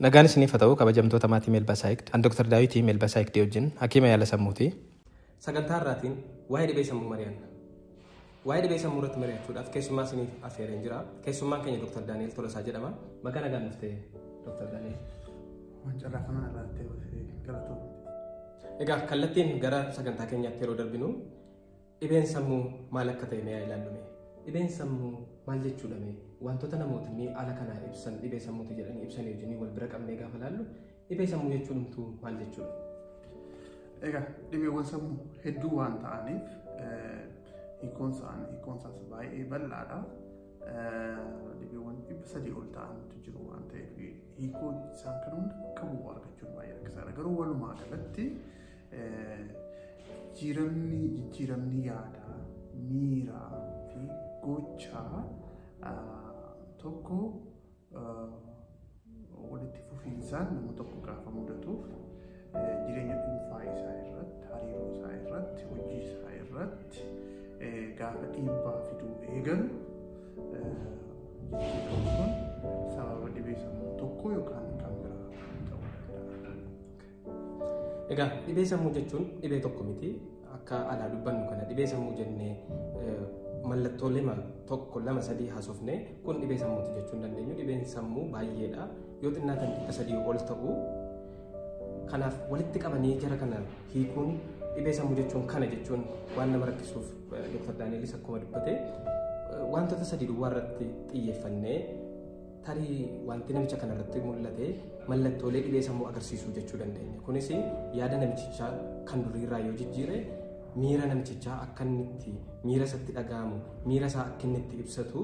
Nagaan isiniif haa ta'u kabajamtoota maatii Melba Psyched. An Dr. Daawiti Melba Psyched wajjin hakiima yaala sammuuti. Sagantaa har'aatiin waa'ee dhibee sammuu mari'anna. Waa'ee dhibee sammuu irratti mari'achuudhaaf keessummaa isiniif affeereen jira. Keessummaan keenya Dr. Daani'el Tolosaa jedhama. Baga nagaan dhuftee Dr. Daani'el. Waan carraa kana irratti galatoomi. Egaa kallattiin gara sagantaa keenyaatti yeroo darbinu Dhibeen sammuu maal akka ta'e mee haa ilaallu mee. Dhibeen sammuu maal jechuudha mee? Wantoota namootni haala kanaa ibsan dhibee sammuuti jedhanii ibsan wajjin wal bira qabnee gaafa ilaallu dhibee sammuu jechuun humtuu maal jechuudha? Egaa dhibeewwan sammuu hedduu waan ta'aniif hiikoon isaanii hiikoon isaas baay'ee bal'aadha. Dhibeewwan dhibba sadii ol ta'antu jiru waan ta'eef hiikoo isaan kan hunda qabu argachuun baay'ee rakkisaadha. Garuu walumaa galatti Jijjiiramni jijjiiramni yaadaa, miiraa fi gochaa tokko walitti fufiinsaan nama tokko gaafa mudatuuf jireenya dhuunfaa isaa irratti, hariiroo isaa irratti, hojii isaa irratti gaafa dhiibbaa fiduu eegalu jijjiiramni kun sababa dhibee sammuu tokko yookaan kan biraa ta'uu danda'a. Egaa dhibee sammuu jechuun dhibee tokko miti. Akka alaa dubbannu kana dhibee sammuu jennee mallattoo lama tokko lama sadii haasofne kun dhibee sammuuti jechuun dandeenyu dhibeen sammuu baay'eedha. Yoo xinnaatan dhibba sadii ol ta'u. Kanaaf walitti qabanii jara kana hiikuun dhibee sammuu jechuun kana jechuun waan nama rakkisuuf Dr. Daanielis akkuma dubbate wantoota sadii duwwaa irratti xiyyeeffannee Tarii wanti namicha kana irratti mul'ate mallattoolee dhibee sammuu agarsiisuu jechuu dandeenya. Kunis yaada namichichaa kan duriirraa yoo jijjiire miira namichichaa akka inni itti miira isatti dhaga'amu miira isaa akka inni itti ibsatu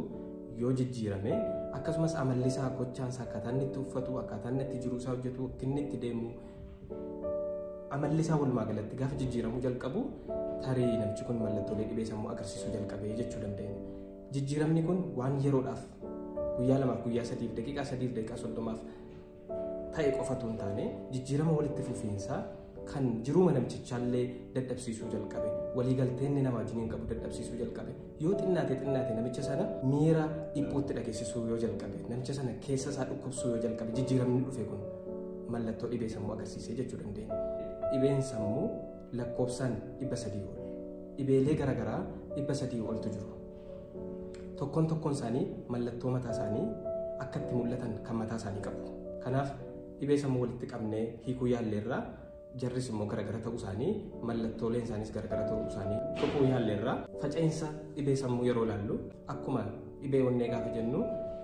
yoo jijjiirame akkasumas amalli isaa gochaan isaa akkaataa inni itti uffatu akkaataa inni itti jiruu isaa hojjetu akka inni itti deemu amalli isaa walumaa galatti gaafa jijjiiramuu jalqabu tarii namichi kun mallattoolee dhibee sammuu agarsiisuu jalqabee jechuu dandeenya. Jijjiiramni kun waan yeroodhaaf guyyaa lamaaf guyyaa sadiif daqiiqaa sadiif daqiiqaa soddomaaf ta'e qofatu hin taane jijjiirama walitti fufiinsaa kan jiruu namtichaallee dadhabsiisuu jalqabe waliigaltee inni nama wajjiniin qabu dadhabsiisuu jalqabe yoo xinnaate xinnaate namicha sana miira dhiphuutti dhageessisuu yoo jalqabe namicha sana keessa isaa dhukkubsuu yoo jalqabe jijjiiramni dhufe kun mallattoo dhibee sammuu agarsiisee jechuu dandeenya. Dhibeen sammuu lakkoofsaan 300 ol dhibeelee garaagaraa 300 oltu jiru. Tokkoon tokkoon isaanii mallattoo mataa isaanii akka itti mul'atan kan mataa isaanii qabu. Kanaaf dhibee sammuu walitti qabnee hiikuu yaalleerraa jarris immoo garaagara ta'uu isaanii mallattooleen isaaniis garaagara ta'uu isaanii tuquu yaalleerraa faca'insa dhibee sammuu yeroo ilaallu Akkuma dhibee onnee gaafa jennu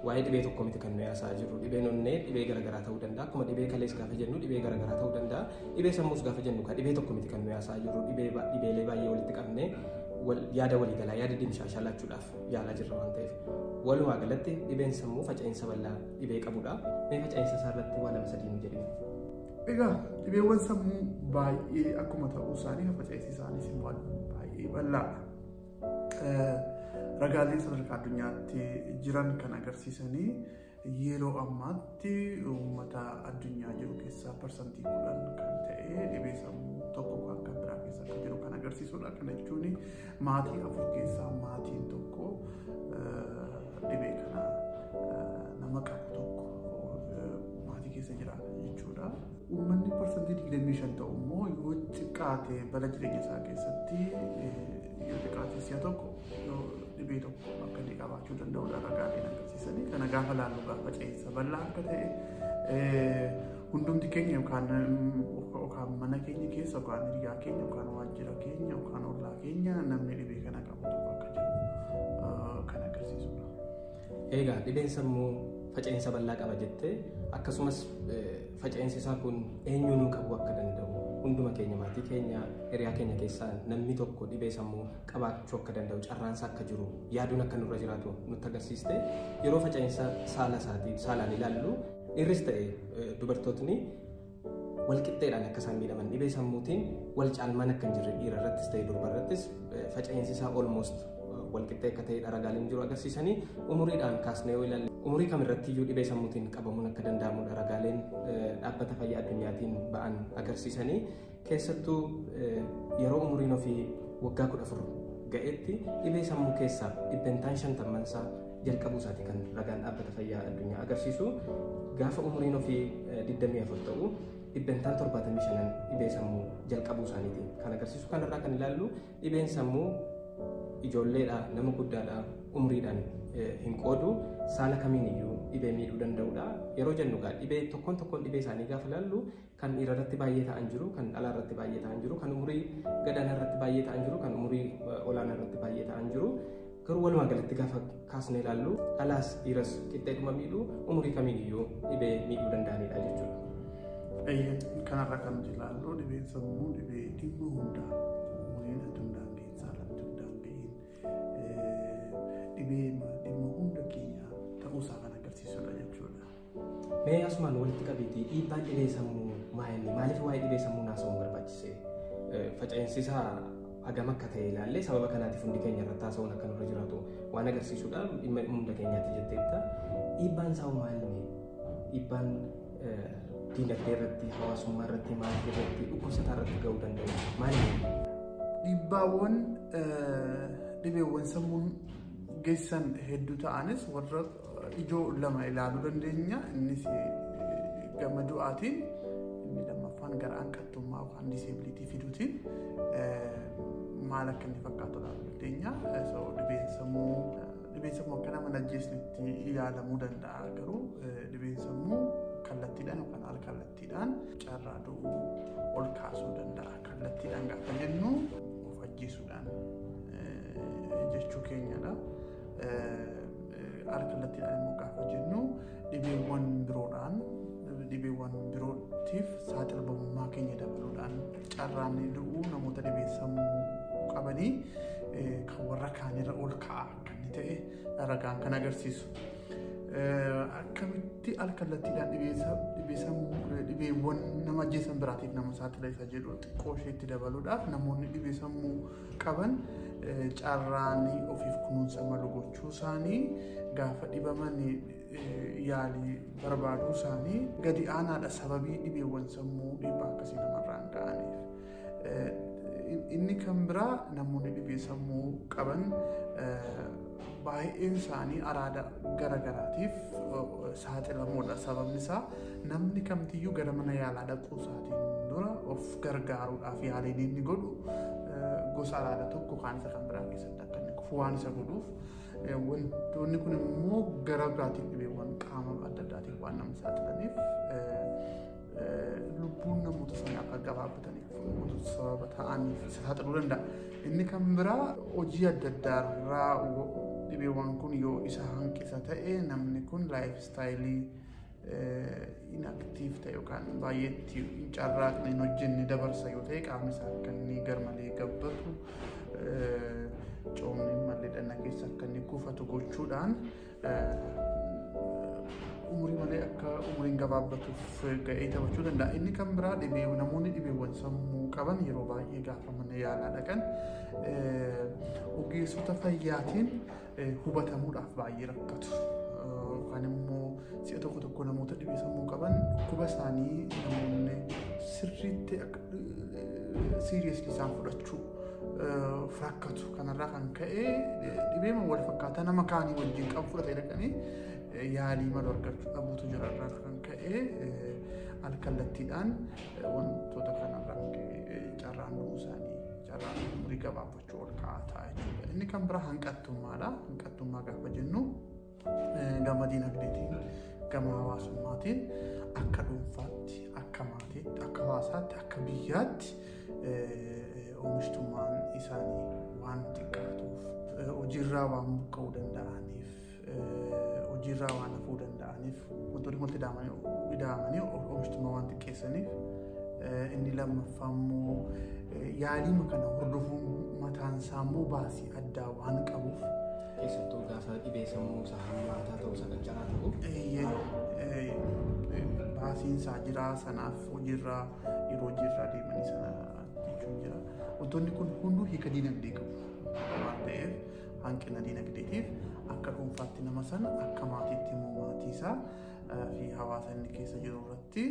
waa'ee dhibee tokko miti kan nuyi haasa'aa jirru. Dhibeen onnee dhibee garaagaraa ta'uu danda'a. Akkuma dhibee kalees gaafa jennu dhibee garaagaraa ta'uu danda'a. Dhibee sammuus gaafa jennu kan dhibee tokko miti kan nuyi haasa'aa jirru. Dhibee ba- dhibeelee baay'ee walitti qabnee wal- yaada waliigalaa yaada dimshaashaa laachuudhaaf yaalaa jirra waan ta'eef. Walumaa galatti dhibeen sammuu faca'insa bal'aa dhibee qabudha. Mee faca'insa isaa irratti waa lama sadii nu jedhee. Egaa dhibeewwan sammuu baay'ee akkuma ta'uu isaanii faca'insi isaaniis immoo baay'ee bal'aadha. Ragaaleen sadarkaa addunyaatti jiran kan agarsiisanii yeroo ammaatti uummata addunyaa jiru keessaa parsantii kudhan kan ta'e dhibee sammuu tokko kan kan biraa keessa akka jiru kan agarsiisudha. Kana jechuun maatii afur keessaa maatiin tokko dhibee kana nama qabu tokko maatii keessa jiraata jechuudha. Uummanni parsantii 25 ta'u immoo yoo xiqqaate bara jireenya isaa keessatti yoo xiqqaate si'a tokko yoo dhibee tokko akka inni qabaachuu danda'udha ragaaleen agarsiisanii kana gaafa laallu gaafa ce'insa bal'aa akka ta'e hundumti keenya yookaan yookaan mana keenya keessa yookaan hiriyaa keenya yookaan waajjira keenya yookaan ollaa keenya namni dhibee kana qabu tokko akka jiru kan agarsiisudha. Eegaa dhibeen sammuu faca'insa bal'aa qaba jettee akkasumas faca'insi isaa kun eenyuunuu qabu akka danda'u hunduma keenya maatii keenya hiriyaa keenya keessaa namni tokko dhibee sammuu qabaachuu akka danda'u carraansa akka jiru yaaduun akka nurra jiraatu nutti agarsiiste yeroo faca'insa saala isaatii saalaan ilaallu dhiirris ta'e dubartootni walqixxeedhaan akka isaan miidhaman dhibee sammuutiin wal caalmaan akka hin jirre dhiira irrattis ta'e durba irrattis faca'insi isaa olmoost walqixxee akka ta'e ragaaleen jiru agarsiisanii umuriidhaan kaasnee yoo ilaalle umurii kam irratti iyyuu dhibee sammuutiin qabamuun akka danda'amu ragaaleen dhaabbata fayyaa addunyaatiin ba'an agarsiisanii keessattuu yeroo umuriin ofii waggaa kudha afur ga'etti dhibee sammuu keessaa dhibbentaan shantammansaa jalqabuu isaati kan ragaan dhaabbata fayyaa addunyaa agarsiisu gaafa umuriin ofii 24 ta'u dhibbentaan 75 dhibee sammuu jalqabuu isaaniiti kan agarsiisu kanarraa kan ilaallu dhibeen sammuu ijoolleedha nama guddaadha umriidhaan hin qoodu saala kamiin iyyuu dhibee miidhuu danda'udha yeroo jennu gaa dhibee tokkoon tokkoon dhibee isaanii gaafa ilaallu Kan dhiira irratti baay'ee ta'an jiru, kan dhalaa irratti baay'ee ta'an jiru, kan umurii gadaanaa irratti baay'ee ta'an jiru, kan umurii olaanaa irratti baay'ee ta'an jiru. Garuu walumaa galatti gaafa kaasnee ilaallu dhalaas dhiiras qixxeedhuma miidhuu umurii kamiin iyyuu dhibee miidhuu danda'anidha jechuudha. Eeyyee kanarra kan nuti ilaallu dhibeen sammuu dhibee dhibba hundaa umuriin adda hundaan keessaa irratti hundaan ga'iin dhibee dhimma hunda keenya ta'uusaa kan agarsiisudha jechuudha. Mee asumaan walitti qabiitii dhiibbaan dhibee sammuu maa inni maaliif waa'ee dhibee sammuu naasa'uun barbaachise? Eh, Faca'insi isaa hagam akka ta'e ilaallee sababa kanaatiif hundi keenya irratti haasa'uun akka nurra jiraatu waan agarsiisudha. Dhimma hunda keenyaatti jetteetta. Dhiibbaan isaa maa inni? Dhiibbaan eh, diinagdee irratti, hawaasummaa irratti, maatii irratti, dhukkubsataa irratti ga'uu danda'u maal inni? Dhiibbaawwan eh, dhibeewwan sammuun geessan hedduu ta'anis warra ijoo lama ilaaluu dandeenya. Innis gama du'aatiin inni lammaffaan gara hanqattummaa yookaan diseebiliitii fiduutiin maal akka inni fakkaatu ilaaluu dandeenya. Dhibeen sammuu dhibeen sammuu akka nama najjeesnitti yaalamuu danda'a garuu dhibeen sammuu kallattiidhaan yookaan al kallattiidhaan carraa du'uu ol kaasuu danda'a. Kallattiidhaan gaafa jennu of ajjeesuudhaan jechuu keenyadha. Alkallattiidhaan immoo gaafa jennu dhibeewwan biroodhaan dhibeewwan birootiif saaxilamummaa keenya dabaluudhaan carraan du'uu namoota dhibee sammuu qabanii kan warra kaanirra ol ka'a akka inni ta'e ragaan kan agarsiisu. Akkamitti alkallattiidhaan dhibee sammuu dhibeewwan nama ajjeesan biraatiif nama saaxila isa jedhu xiqqoo isheetti dabaluudhaaf namoonni dhibee sammuu qaban carraan ofiif kunuunsa malu gochuu isaanii gaafa dhibaman yaalii barbaaduu isaanii gadi aanaadha sababii dhibeewwan sammuu dhiibbaa akkasii namarraan ga'aniif. Inni kan biraa namoonni dhibee sammuu qaban baay'een isaanii araada gara garaatiif saaxilamoodha. Sababni isaa namni kamtiyyuu gara mana yaalaa dhaquu isaatiin dura of gargaaruudhaaf yaaliin inni godhu gosa araada tokko kaan isa kan biraa keessatti akka inni kufu waan isa godhuuf wantoonni kun immoo gara biraatiin dhibeewwan qaama adda addaatiin waan nama saaxilaniif lubbuun namoota sana akka gabaabbataniif namoota sababa ta'aniif isa saaxiluu danda'a. Inni kan biraa hojii adda addaa irraa dhibeewwan kun yoo isa hanqisa ta'e namni kun laayif istaayilii inaktiif ta'e yookaan baay'ee itti hin carraaqne hin hojjenne dabarsa yoo ta'e qaamni isaa akka inni garmalee gabbatu coomni mallee dhanna keessa akka inni kuufatu gochuudhaan umurii malee akka umuriin gabaabbatuuf ga'ee taphachuu danda'a. Inni kan biraa dhibee namoonni dhibeewwan sammuu qaban yeroo baay'ee gaafa mana yaalaa dhaqan ogeessota fayyaatiin hubatamuudhaaf baay'ee rakkatu. Yookaan immoo si'a tokko tokko namoota dhibee sammuu qaban dhukkuba isaanii namoonni sirriitti siiriyeesli isaan fudhachuu rakkatu. Kanarraa kan ka'e dhibeema wal fakkaataa nama kaanii wajjin qabu fudhatee dhaqanii yaalii malu argachuu dhabuutu jira irraa kan ka'e alkallattiidhaan wantoota kanarraa carraan du'uu isaanii carraan umurii gabaabachuu ol ka'aa ta'a jechuudha. Inni kan biraa hanqattummaadha. Hanqattummaa gaafa jennu Gama diinagdeetiin, gama hawaasummaatiin akka dhuunfaatti, akka maatiitti, akka hawaasaatti, akka biyyaatti oomishtummaan isaanii waan xiqqaatuuf hojiirraa waan buqqa'uu danda'aniif hojiirraa waan hafuu danda'aniif wantoonni wanti ida'amanii oomishtummaa waan xiqqeessaniif inni lammaffaa immoo yaaliima kana hordofuun mataan isaa immoo baasii addaa waan qabuuf keessattuu gaafa dhibee sammuu isa hammaataa ta'u isa qancaraa ta'u baasiin isaa jira sanaaf hojiirra yeroo hojiirra deemanii sana jechuun jira. Wantoonni kun hunduu hiika dinagdee qabu waan ta'eef hanqina dinagdeetiif akka dhuunfaatti nama sana akka maatiitti immoo maatii isaa fi hawaasa inni keessa jiru irratti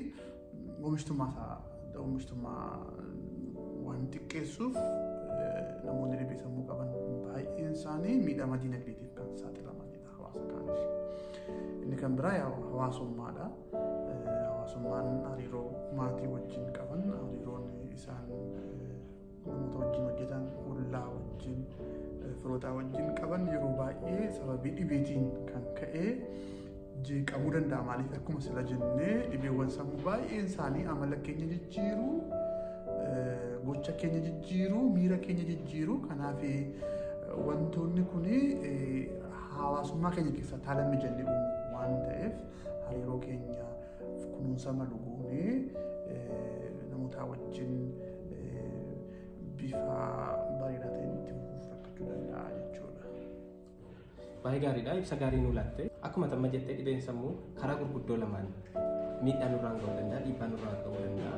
Oomishtummaa isaa oomishtummaa waan xiqqeessuuf namoonni dhibee sammuu qaban baay'een isaanii miidhama dinagdeetiif kan saaxilamanidha hawaasa kaanis. Inni kan biraa hawaasummaadha. Hawaasummaan hariiroo maatii wajjin qaban hariiroon isaan namoota wajjin hojjetan ollaa wajjin firootaa wajjin qaban yeroo baay'ee sababii dhibeetiin kan ka'e jeeqamuu danda'a maaliif akkuma sila jennee dhibeewwan sammuu baay'een isaanii amala keenya jijjiiru gocha keenya jijjiiru miira keenya jijjiiru kanaaf wantoonni kun hawaasummaa keenya keessatti haala mijannee uumu waan ta'eef hariiroo keenya kunuunsa malu goonee namootaa wajjin bifa bareedaa ta'een itti fufuuf rakkachuu danda'a jechuudha. Baay'ee gaariidha. Ibsa gaarii nuu laatte. Akkuma tamma jettee dhibeen sammuu karaa gurguddoo lamaan miidhaa nurraan ga'uu danda'a, dhiibbaa nurraan ga'uu danda'a.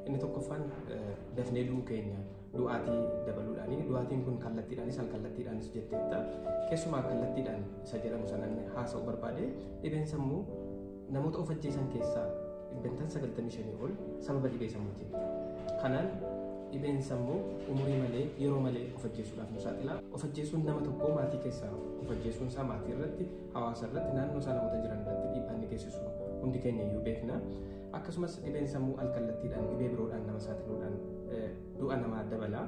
Inni tokkoffaan dafnee du'uu keenya. du'aatii dabaluudhaani. Du'aatiin kun kallattiidhaanis alkallattiidhaanis jetteetta. Keessumaa kallattiidhaan isa jedhamu sanan haasa'u barbaade dhibeen sammuu namoota of ajjeesan keessaa dhibbentaan 95 ol sababa dhibee sammuutiin. Kanaan dhibeen sammuu umurii malee yeroo malee of ajjeesuudhaaf nu saaxila. Of ajjeesuun nama tokkoo maatii keessaa of ajjeesuun isaa maatii irratti hawaasa irratti naannoo isaa namoota jiran irratti dhiibbaa inni geessisu hundi keenya iyyuu beekna. Akkasumas dhibeen sammuu alkallattiidhaan dhibee biroodhaan nama saaxiluudhaan du'a namaa dabala.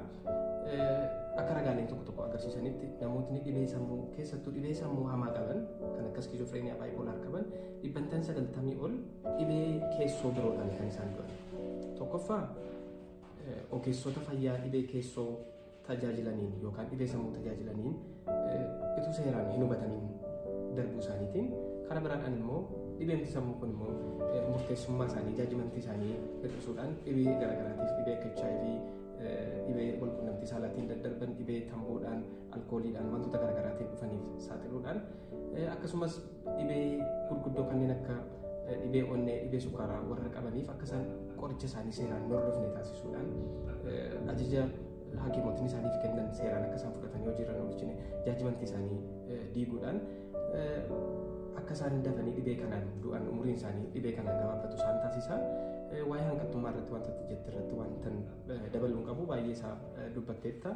Akka ragaaleen tokko tokko agarsiisanitti namootni dhibee sammuu keessattuu dhibee sammuu hamaa qaban kan akka skiizofreeniyaa baayipolaar qaban dhibbantaan sagaltamii ol dhibee keessoo biroodhaan kan isaan du'an. Tokkoffaa ogeessota fayyaa dhibee keessoo tajaajilaniin yookaan dhibee sammuu tajaajilaniin utuu seeraan hin hubataniin darbuu isaaniitiin karaa biraadhaan immoo dhibeen sammuu kun immoo murteessummaa isaanii jaajimantii isaanii hir'isuudhaan dhibee garaagaraatiif dhibee akka HIV dhibee walqunnamtii saalaatiin daddarban dhibee tamboodhaan alkooliidhaan wantoota garaagaraatiin dhufaniif saaxiluudhaan akkasumas Dhibee gurguddoo kanneen akka dhibee onnee, dhibee sukkaaraa warra qabaniif akka isaan qoricha isaanii seeraan hin hordofne taasisuudhaan ajaja hakiimotni isaaniif kennan seeraan akka isaan fudhatan yoo jiran oolchine jaajimanti isaanii diiguudhaan akka isaan dafanii dhibee kanaan du'an umuriin isaanii dhibee kanaan gabaabatu isaan taasisa. Waa'ee hanqattummaa irratti wanta jette irratti wanta dabaluun qabu baay'ee isaa dubbatteetta.